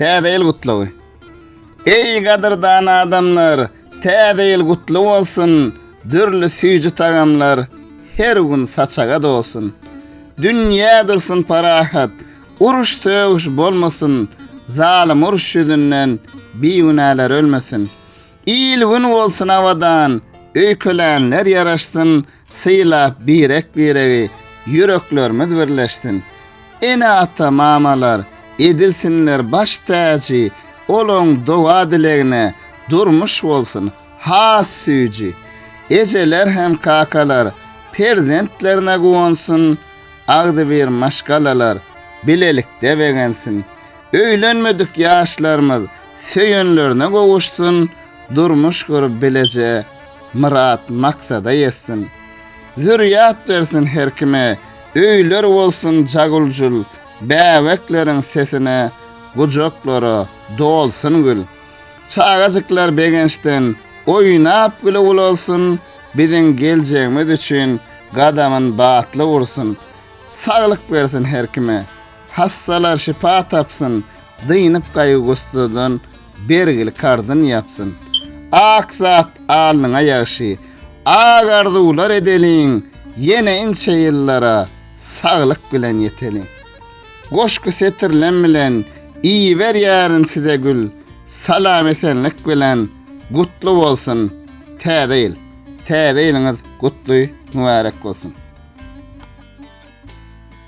Täze ýyl gutlagy. Eý gadyrdan adamlar, täze ýyl gutly bolsun, dürli süýji tagamlar her gün saçaga dolsun. Dünýä dursun parahat, uruş-sögüş bolmasyn, zalym uruş ýüzünden bigünäler ölmesin. Il gün bolsun abadan, öýkelänler ýaraşsyn, sylap birek biregi, ýüreklerimiz birleşsin. Ene ata mamalar, edilsinler baş täji, olaň doga dilegine, durmuş bolsun, has süýji. Ejeler hem kakalar, perzentlerine guwansyn, agzybir maşgalalar, bilelikde begensin. Öýlenmedik ýaşlarymyz söýenlerine gowuşsun, durmuş gurup bileje myrat maksada ýetsin. Zürýat bersin her kime, öýler bolsun jaguljul, bäbekleriň sesine, gujaklara dolsun gül. Çagajyklar begençden oýnap güle ulalsyn, biziň geljegimiz üçin gadamyn batly ursun. Saglyk bersin her kime. Hassalar şypa tapsyn, dynyp gaýgy-gussadan, bergil karzyn ýapsyn. Ak zat alnyňa ýagşy, ak arzuwlar edeliň, ýene inçe ýyllara saglyk bilen ýeteliň. Goşgy setirlem bilen iberýärin size gül, salam-esenlik bilen gutly bolsun Täze ýyl! Täze ýylyňyz gutly, mübärek bolsun!